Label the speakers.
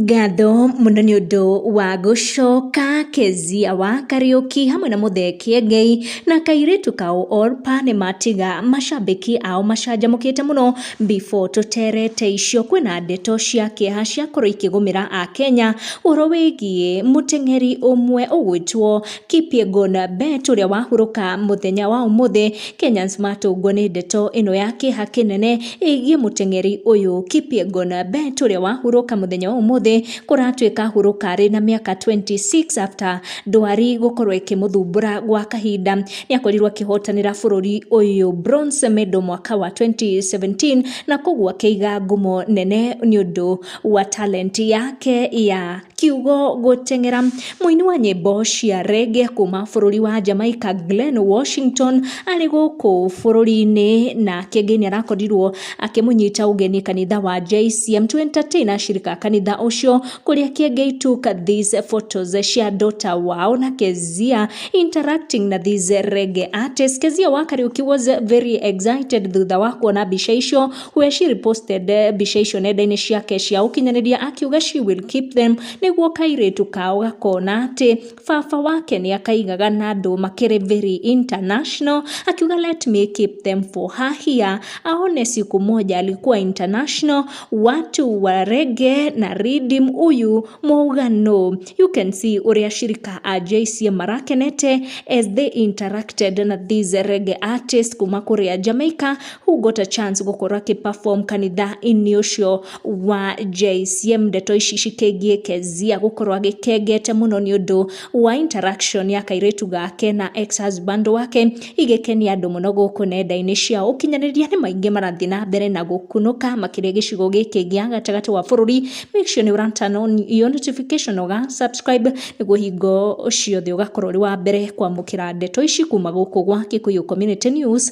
Speaker 1: Ngatho mũno nĩ ũndũ wa gũcoka, Kezia wa Kariũki hamwe na Mũthee Kĩengei na kairĩtu kao Orpah nĩ matiga macambĩki ao macanjamũkĩte mũno. Before tũterete icio kwĩna ndeto cia kĩeha ciakorwo ikĩgũmĩra Akenya ũhoro wĩgiĩ mũteng'eri ũmwe ũgwĩtwo... Kipyegon Bett ũrĩa wahurũka mũthenya wa ũmũthĩ. Kenyans matũngwo nĩ ndeto ĩno ya kĩeha kĩnene ĩgiĩ mũteng'eri ũyũ. Kipyegon Bett ũrĩa wahurũka mũthenya wa ũmũthĩ kũratuĩka ahurũka arĩ na mĩaka 26 after ndwari gũkorwo ĩkĩmũthumbũra gwa kahinda. Nĩ akorirwo akĩhotanĩra bũrũri ũyũ bronze medal mwaka wa 2017 na koguo akĩiga ngumo nene nĩ ũndũ wa talent yake ya Kiugo gũteng'era. Mũini wa nyĩmbo cia rege kuma bũrũri wa Jamaica Glen Washington arĩ gũkũ bũrũri-inĩ nake ngai nĩarakorirwo akĩmũnyita ũgeni kanitha wa JCM to entertain ashirika kanitha ũcio kũrĩa Kiengei took these photos cia daughter wao na Kezia interacting na these rege artists. Kezia wa Kariuki was very excited thutha wa kuona mbica icio Hueshir posted mbica icio nenda-inĩ ciake cia ũkinyanĩria akiuga she will keep them nĩguo kairĩtu kao gakona atĩ baba wake nĩ akaigaga na andũ makĩrĩ very international akiuga let me keep them for her here aone siku moja alikuwa international watu wa rege na ridim uyu mũugano you can see ũrĩa shirika a JC marakenete as they interacted na these rege artists kuma kũrĩa Jamaica who got a chance gũkorwo akĩ perform kanitha-inĩ ũcio wa JCM, ndeto ici cikĩgiĩ Kezia gũkorwo agĩkengete mũno nĩ ũndũ wa interaction ya kairĩtu gake na ex husband wake, igĩkenia andũ mũno gũkũ nenda-inĩ cia ũkinyanĩria, nĩ maingĩ marathiĩ na mbere na gũkunũka makĩria gĩcigo gĩkĩ gĩa gatagatĩ wa bũrũri, make sure nĩ ũra turn on your notification na ũga subscribe nĩguo hingo ciothe ũgakorwo ũrĩ wa mbere kwamũkĩra ndeto ici kuma gũkũ gwa Gĩkũyũ Community News.